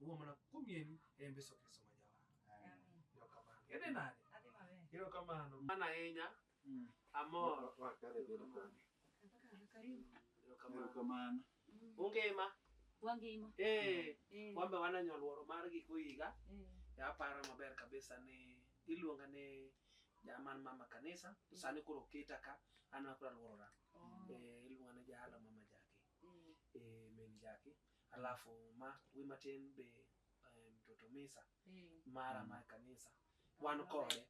Uwe mwana kumi en embe soke soma jawa. Amen. Yo kamano. Yede nade? Adhi maber. Yo kamano. Mana ahinya. Mm. Amor. Wakare bedo koni. Karibu. Yo kamano. Kamano. Ungima. Wangima. Eh. Eh. Wambe wana nyoluoro mar giko higa. Eh. Ya aparo maber kabisa ni iluonga ni jaman mama kanisa to sani koro oketa ka an akora luorora. Oh. Eh, iluonga ni jahala mama jaki. Eh. Eh, min jaki. Alafu ma wi matin be eh, mtoto misa Eh, mara mar kanisa wan kode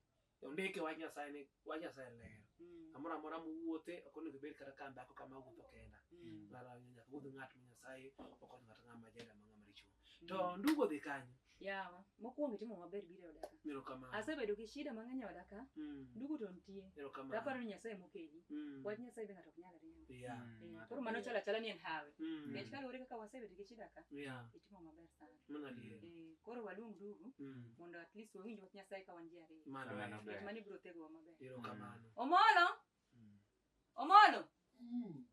ondike wach nyasaye ni wach nyasaye ler mm, amoro amora mowuothe ok onego ibed kata ka dhako kama wuotho kenda mm, ng'ato nyaka wuodh ng'at ma nyasaye okonyo ng'ato ng'ama jada ma ng'ama richo to ndugu odhi kanyo Yawa, mokwongo itimo maber biro e oda ka. Erokamano. Asebedo gi shida mang'eny e oda ka, Mm. ndugu to nitie. To Erokamano. aparo ni Nyasaye mokeli. Mm. Wach Nyasaye be ng'ato ok nyal riembo. Yeah. Mm. Eh, Koro mano chalo achala ni en hawi. Mm. Nikech kaluwore kaka wasebedo gi shida ka, Yeah. itimo maber sana. Mano adier. Eh, Koro waluong ndugu Mm. mondo at least wawinj wach Nyasaye ka wan ji ariyo. Mano Mano en. ber. Nikech mano ibiro thegowa maber. Erokamano. Omolo! Omolo!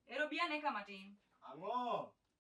Ero bi ane ka matin. Ang'o?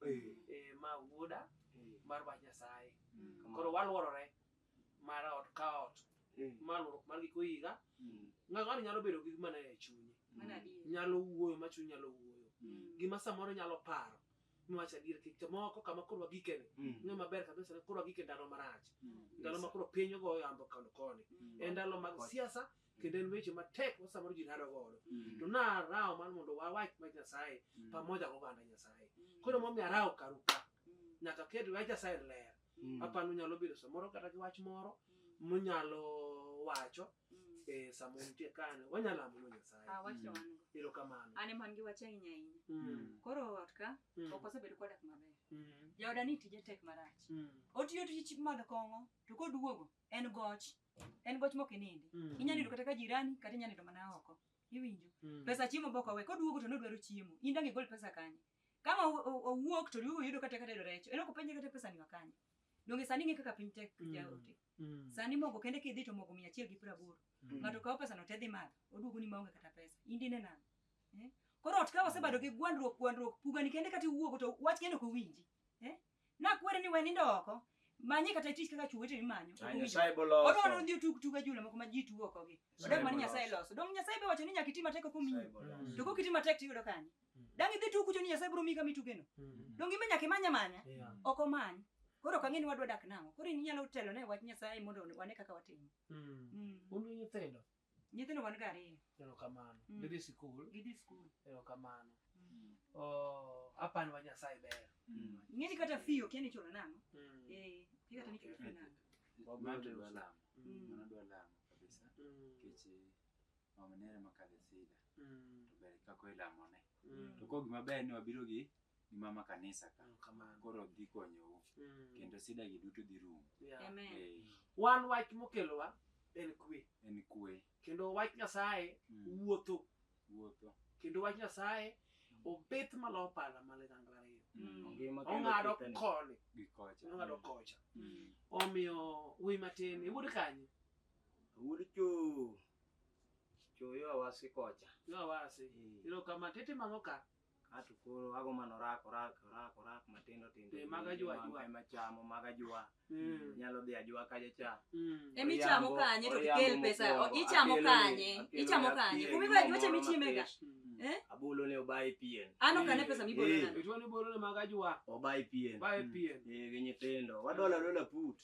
eh, ma wuoda mar wach nyasaye koro waluorore mar ot ka ot ma luorruok mar giko higa ng'ato ng'ato nyalo bedo gi mana e chunye Mano adier. nyalo wuoyo ma chuny nyalo wuoyo Mm. gima samoro nyalo paro miwacho adier kik to moko kama koro wagikene ng'e maber kabisa ni koro wagike ndalo marach ndalo ma koro piny ogoyo yambo koni koni Mm. e ndalo mag siasa kendo en weche matek ma samoro ji rado godo to narawo mar mondo wawach wach nyasaye pamoja goganda nyasaye koro momiyo arawo karu ka nyaka ket wach nyasaye ler apano nyalo bedo samoro kata gi wach moro munyalo wacho e samoro nitie kane wanyalo amono Ah, nyasaye wach to wan go. ero kamano An ema an gi wach ahinya ahinya. Mm, Koro ot ka mm, ok osebedo kodak maber. mm, Jaoda ni tije tek marach. mm, Otiyo tich madho kong'o to koduogo en goch. en goch mok inindi Mm. inyalo nindo kata ka jirani kata inyalo nindo mana oko iwinjo Mm. pesa chiemo bok owe koduogo to nodwaro chiemo in dang' igol pesa kanye kama o- o- owuok to riwo yudo kata kata yudo recho en ok openje kata pesa ni wakanye donge sani ng'e kaka piny tek Mm. jaote Mm. sani mogo kende kidhi to mogo mia achiel gi piero aboro Mm. ng'ato kawo pesa no te dhi madho oduogo ni maonge kata pesa indine nang' eh? koro ot ka wasebedo gi gwandruok gwandruok pugani kende kata iwuogo to wach kende ok owinji eh? Nakwere ni we nindo oko. Manye kata tich kaka chwo weteni manyo. Ah, Oduong' Nyasaye ijo. boloso. Odwa ni odhi otug tuge jule moko ma ji tugo oko gi. Nyasaye Odak mana Nyasaye boloso. loso. Dong Nyasaye be wacho ni nyaka iti matek ok omiyi. Nyasaye boloso. To kok iti matek tiyudo kanye? Dang' idhi tugo kucho ni Nyasaye biro miyi kama itugeno. Dong imbe nyaka imanya manya. Yeah. Ok omany. Koro ok ang'e ni wadwa dak nang'o. Koro in inyalo telo ne wach Nyasaye mondo wane kaka watimo. Mm. Mm. Un gi nyithindo? Nyithindo wan ga ariyo. Erokamano. Mm. Gidhi sikul. Gidhi sikul. Erokamano. Mm. Oh, hapa ni wa Nyasaye ber. Mm. Ng'eni kata fee okia ni chulo nang'o? Mm. Eh, okia kata ni chulo fee nang'o? Wabiro dwa lamo. Mm. Mano dwa lamo kabisa. Mm. Kechi mama nere makadhe sida. Mm. To ber kako ilamone. Mm. to koro gima ber ni wabiro gi gi mama kanisa ka Mm, kamano. koro dhi konyou Mm. kendo sida gi duto dhi rumo Yeah. Amen. Eh, Wan wach mokelowa en kwe. en kwe Kendo wach Nyasaye Mm. wuotho. wuotho Kendo wach Nyasaye obet malo pala male gangla ariyo. Mm. Ongima kendo Ong'ado kethene. koni, gi kocha ong'ado kocha. Mm. Omiyo wuoyi matin, iwuod kanye? Wuod cho. Cho yo awasi kocha. Yo awasi. Eh. Ilo kama tete mano ka. Ato koro ago mano rako rako rako rako matindo tindo. Eh, maga jua jua. Ema chamo maga jua. Mm. Nyalo dhi ajua kaje cha. Mm. Emi chamo kanye to kel pesa. Ichamo kanye. Ichamo kanye. Kumi ba jua chemi chimega. Mm. Eh? Abulo ne obai pien. Ano kane pesa mi bolo na. Itwa ni bolo na maga jua. Obai pien. Obai pien. Eh, ginyi tindo. Wadola dola put.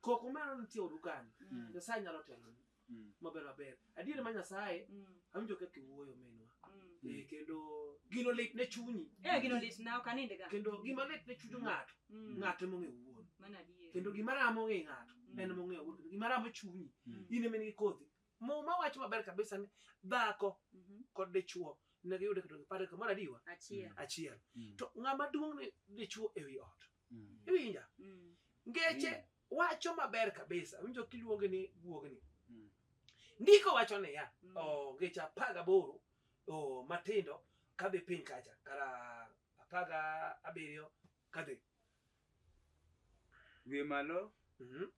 Koko mano nitie odu kanyo. Mm. Nyasaye nyalo telo Mm. maber maber. Adier ma Nyasaye Mm. awinjo kaka iwuoyo minwa. Mm. Eh, kendo gino lit ne chunyi. Eh, gino lit na ok aninde ga. Kendo gima lit ne chuny ng'ato, Mm. ng'ato ema ong'eyo wuon. Mano adier. Kendo gima ramo ng'e ng'ato, Mm. en ema ong'eyo wuon. Kendo gima ramo chunyi, Mm. in ema in gi kodhi. Muma wacho maber kabisa ni dhako Mhm. kod dichwo ne giyudo kendo gipare kamoro adiwa Achiel. achiel. Mm. To ng'ama duong' ne dichwo ewi ot. mm. iwinja mm. ngeche mm. wacho maber kabisa winjo kiluonge ni guogni mm. ndiko wacho niya mm. oh, ngeche apar gaboro oh, matindo kadhi piny kacha kara apar ga abiriyo kadhi wiye malo mm -hmm.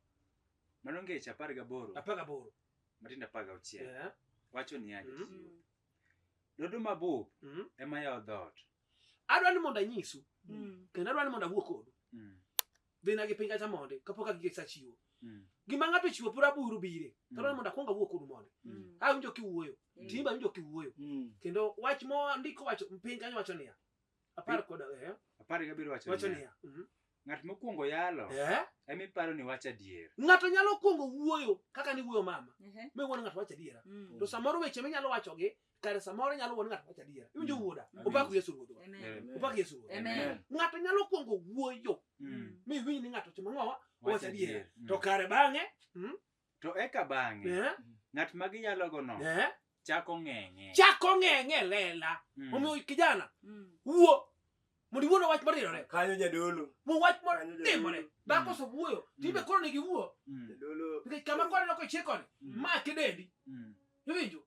mano ngeche apar gaboro apar gaboro matindo apar gauchiel yeah. wacho niya mm -hmm. dodo mabop mm -hmm. ema yawo dhoot adwa ni mondo anyisu Mm. kendo adwa ni mondo awuo kodu Mm. dhi na gi piny kacha mondi kapok agige sa chiwo Mm. gima ng'ato chiwo pura buru bire Mm. tadwa ni mondo akwong awuo kodu mondi Mm. a winjo kiwuoyo Mm. timba winjo kiwuoyo Mm. kendo wach mo ndiko wacho piny kanyo wacho niya apar kod eh, Apar gabiriyo wacho wacho niya, niya mhm, Ng'at mokwongo yalo eh? ema iparo ni wacho adier. Ng'ato nyalo kwongo wuoyo kaka ni wuoyo mama uh-huh. mi wuon ng'ato wacho adiera mm. to samoro weche minyalo wachogi kare samoro nyalo wuon ng'ato wacho adiera iwinjo mm. wuoda opak Yesu ruodhwa opak Yesu ruodhwa ng'ato nyalo kwongo wuoyo mm. mi iwinj ni ng'ato timo ng'owa wacho adiera to kare bang'e hmm? To eka bang'e, Eh, ng'at ma giyalogono eh, chako ng'eng'e. chako ng'eng'e e lela Mm. omiyo kijana Mm. wuo mondo iwuo na wach marirore Kanyo jadolo. mo wach Kanyo motimore jadolo. dhako osewuoyo tibe koro nigi wuo Mm. Jadolo. nikech kama kwaneno kochir koni Mm. ma kidendi Mm. iwinjo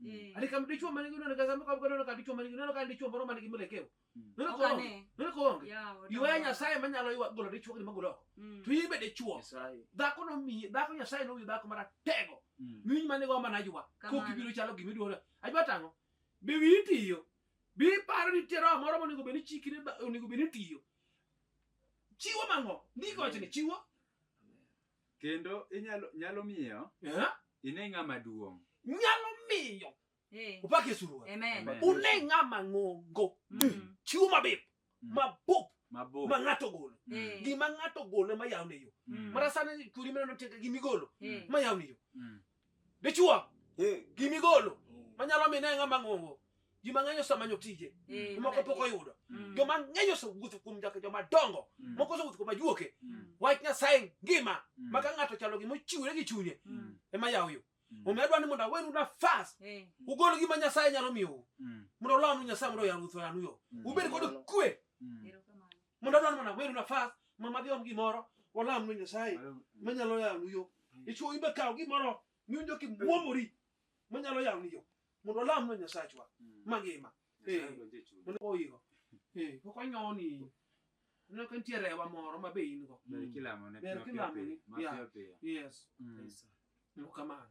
Mm. Ani kam dichwo man gi nono kata mko abgo nono ka dichwo man gi nono ka dichwo moro man gi melekeo. Mm. Nono ko onge. Nono ko onge. Ywa Nyasaye ma nyalo ywa golo dichwo gi magolo oko. Mm. To ibe dichwo. Dhako no mi dhako Nyasaye no wi dhako mara tego. Miny man go mana ywa. Ko kibiro chalo gimi duono. Ajwa tango. Be wi tiyo. Bi paro ni tero moro mo nego beni chikire nego beni tiyo. Chiwo mango. Ndiko chene chiwo. Kendo inyalo nyalo miyo Eh? ine ng'ama duong'. nyalo miyo Eh. opak yesu ruoth Amen. Amen. une ng'ama ng'ongo Mm. chiwo mabith Mm. mabup Mabor. ma ng'ato ogolo Eh. gima ng'ato ogolo ema yawne yo Mm. mara sani churi mineno teka gimigolo Eh. ma yawne yo Mm. Dichwo Eh, gi migolo manyalo mine ng'ama ng'ongo ji mang'eny osemanyo tije Mm. moko pok oyudo Mm. joma ng'eny osewuotho kuom jaka joma dongo Mm. moko osewuotho kuom ajuoke Mm. wach nyasaye ngima Mm. ma ka ng'ato chalo gima ochiwore gi chunye Mm. ema yawo yo Mm. omiyo adwa ni mondo awenu nafas Eh. ugol gima nyasaye nyalo miyou Mm. mondo olamu nyasaye mondo oyanu utho yanu yo Mm. ubed kod kwe Mm. Erokamano. Mondo adwar mana weru nafas ma madhi om gimoro walam ne Nyasaye manyalo yawnu yo. Ichwo ibe kaw gimoro miwinjo kimwomori manyalo yawnu yo. Mondo walam ne Nyasachwa mm. mangima. Eh, mondo oyigo. Eh, pok onyoni. Aneno ka nitie rewa moro ma be in go. Ber mm. kilamo ne. Ber kilamo ne. Yes. Mm. Kamano.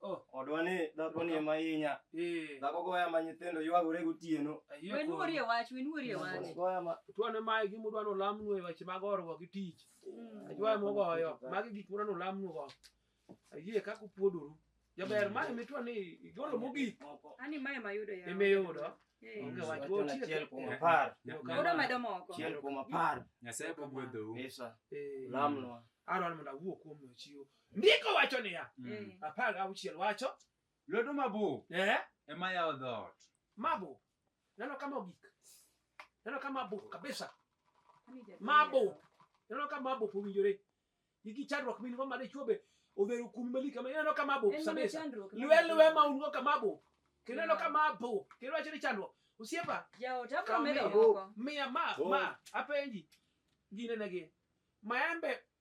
Oh. Odwa ni dhako ni ema inya. Eh. Dhako goya ma nyithindo ywagore gotieno. Wenuori e wach, wenuori e wach. Goya ma tuane ma gi mudwa no lamnu e weche mag orwa gi tich. Mm. Ajwa mo goyo, magi gik mudwa no lamnu go. Ayie kaka upuodoru. Jaber mae mitwa ni igolo mogik. Ani mae mayudo ya. Ime yudo. Eh. Onge wach go chiel kuom apar. Yudo medo moko. Chiel kuom apar. Nyasaye bogwedhou. Pesa. Eh. Lamnwa. Aron mondo awuo kuom chiwo. Ndiko wacho niya, mm. eh. apar gauchiel wacho lwedo mabor eh? ema yawo dhoot. Mabor neno kama ogik, neno kama mabor kabisa, mabor neno kama mabor owinjore igi chandruok min go mane chuobe odhero kum mali kama neno kama mabor kabisa, lwe lwe ma un go kama mabor kendo neno kama mabor kendo wacho ni chandruok osiepa miya ma ma apenji ginenegi maembe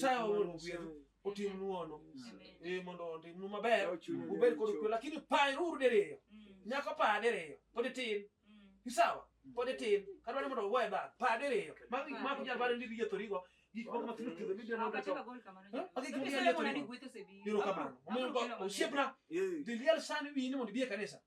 Saya wuon gwedhu otimnu ono eh, mondo otimnu maber ubed kod kwe lakini paruru diriyo mm. nyako pa diriyo pod itin mm. isawa pod itin kata ni mondo ugoye bang pa diriyo mako jal bade ndiri yethorigo gik moko mathindo thindo midenoakigiero kamano osiepna diliel sani wini mondo ibie kanisa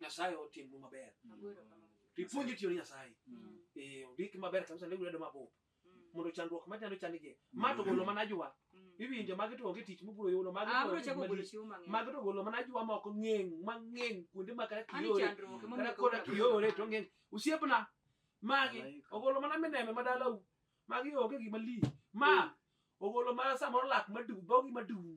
Nyasaye otimnu maber. To ipuonji tiyo ne Nyasaye. Eh, ondik maber kabisa ndiko lwedo mabup. Mondo chandruok ma nyalo chandigi. Ma to golo mana ajwa. Iwinjo magi to onge tich mobiro yudo magi. Ah, to bro onge chako gik golo malich. chiwo mang'eny. Magi to golo mana ajwa ma ok ng'eng, ma ng'eng kuonde ma kata Ani kiyore. chandruok ema Kata omiyo koda golo. kiyore to ng'eng. Osiepna magi Malaika. ogolo mana mineme ma dalau. Magi onge gima li. Ma ogolo mana samoro lak madum, dhogi madum.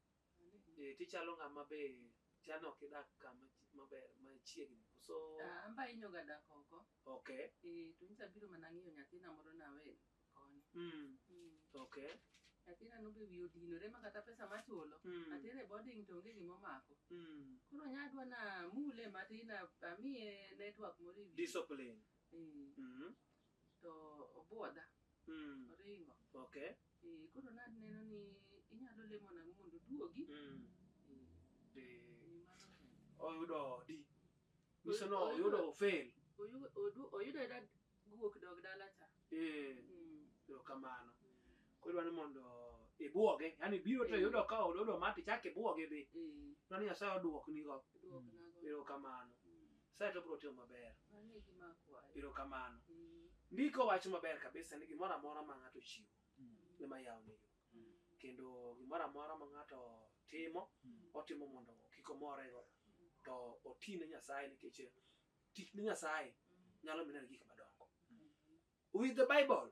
Eh, tichalo ng'ama be chano ok idak kama chi- maber machiegni koso Ah, Amba inyoga dak oko. okay Eh, to nyicha biro mana ng'iyo nyathina moro nawe koni. mm. Mm. okay Nyathina nobe wiye odinore ma kata pesa machulo. mm. Atere boarding to onge gima omako. mm. Koro nyadwa na mule matin a- amiye network moro e wiye. discipline Eh, mm. to obwodha Mm. oringo Okay. Eh, koro naneno ni inyalo lemo nang'o mondo oduogi Mm. Eh, Eh, ni mano kende. Oyudo odi. Nyiso ni oyudo ofail. Oyu- odu- oyudo ayuda guok dog dala cha Eh, Mm. erokamano. Kodwa ni mondo ibwoge, yani biro to Mm. yudo ka ododo mati chak ibwoge dhi. Eh, Kodwa ni Nyasaye odwoknigo. dwok nago. Erokamano. Mm. Nyasaye to biro timo maber. Mano e gima akwayo. Erokamano. Eh, Ndiko wacho maber kabisa ni gimoro amora ma ng'ato chiwo ema yawne yo. Kendo gimoro amora ma ng'ato timo, otimo mondo kik omorego. To oti ne Nyasaye nikech tich ne Nyasaye nyalo mineno gik madongo. With the Bible,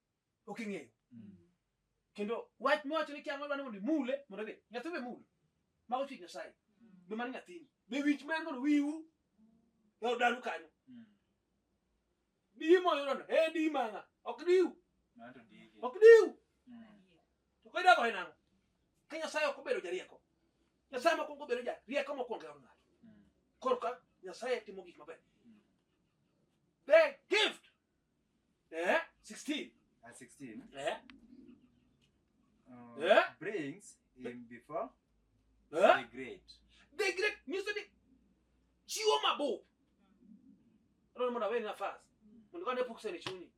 ok ing'eyo kendo wach miwacho ni kia ng'ol dwani mondo imule mondo be nyathi be mule mago chik nyasaye be mano nyathini be winj ma en mondo wiwu e od danu kanyo diyi moyudono e diyi mang'a ok diwu ok diwu to koidago e nang'o ka nyasaye ok obedo jarieko nyasaye mokwongo obedo jarieko mokwongo e od ng'ato korka nyasaye timo gik maber the gift Eh, 16. Uh, 16. Eh. Uh, eh? Brings him before eh? the great. The great music. Chiwo mabo. Rono mwana wewe nafasi. Mundu kande pukse ni chuni.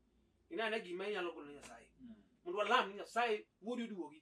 Ina na gima inyalo kono nyasaye. Hmm. Mundu alam ni nyasaye wodi duogi.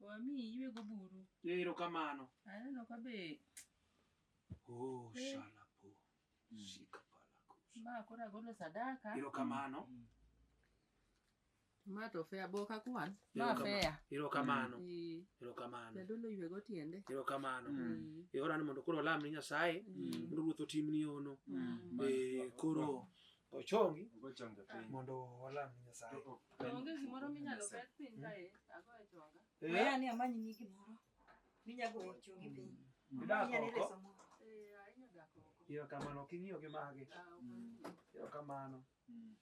Wami ywe go buru. Ero kamano. Aneno ka be. Oh, eh. shala po. Mm. Shika pala ko. Ma kora golo sadaka. Ero kamano. Mm. Ma to fea boka kwan. Ma fea. Ero kamano. Mm. Ero kamano. Ya dolo ywe go tiende. Ero kamano. Mm. E ora ni mondo koro lam ni Nyasaye. Mm. Mondo ruoth otimni ono. Mm. E koro. Mm. Ochongi. Ogochonge piny. Mondo walam ni Nyasaye. To ok en- Onge gimoro minyalo bet piny kae, ago e chonga. Maya ni amanyi ni gimoro. Minyago e chongi piny. Idak Inyalo oko. reso moro. Eh, ahinya dak oko. Iyo kamano ok ing'iyo gi mage. Ah, ok en- Iyo kamano. Mm.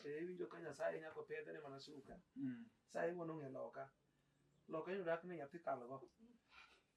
Eh, iwinjo ka Nyasaye nyako pedhe ne mana suka. Mm. Nyasaye wuon ong'e loka. Loka yudo dak ni nyathi kalgo.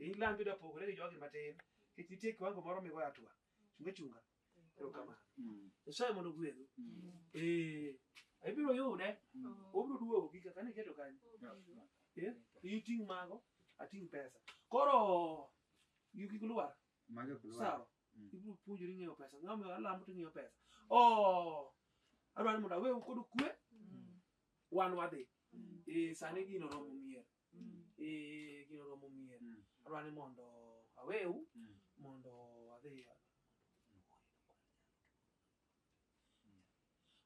Ei Land yudo opogore gi jogi matin. Nikech nitie kiwango moro migoyo atua. Chunga chunga. Erokamano. Nyasaye mondo ogwedhu. Eh, ibiro yude. Obiro duogo gi kaka ne keto kanyo. Eh, iting' mago, ating' pesa. Koro yugi kulwar. Mage kulwa. Sawa. Ibiro puonjori ng'eyo pesa. Ng'ama omiyo alamo to ing'eyo pesa. Oh, adwaro ni mondo awe kod kwe, wan wadhi. Eh, sani gino romo mier. Mm. eh kino romo mie Mm. arwani mondo aweu Mm. mondo adhi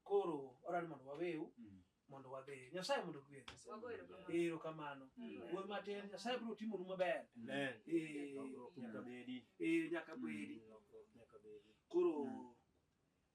koro orani mondo waweu Mm. mondo wadhi nyasaye mondo gwedh Wago erokamano. ero kamano Mm. wuoy matin nyasaye biro timonu maber Amen. Eh, Lokruok nyaka bedi. eh, nyaka bedi Mm, lokruok nyaka bedi. koro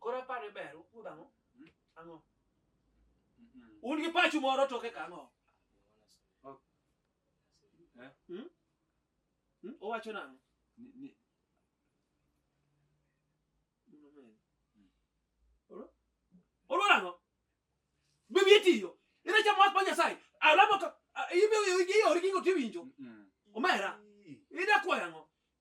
Koro apani ber ukuo dhang'o? Hmm? Ang'o? Hmm. Un gi pachu moro toke kang'o? Oh. Eh? Hmm? Hmm? Owacho nang'o? Ni, ni. Oro nang'o? Bibi etiyo. Ina chamo wach pa Nyasaye. Alamo ka ibe iye ori kingo tiwinjo. Omera. Ida kwa yang'o?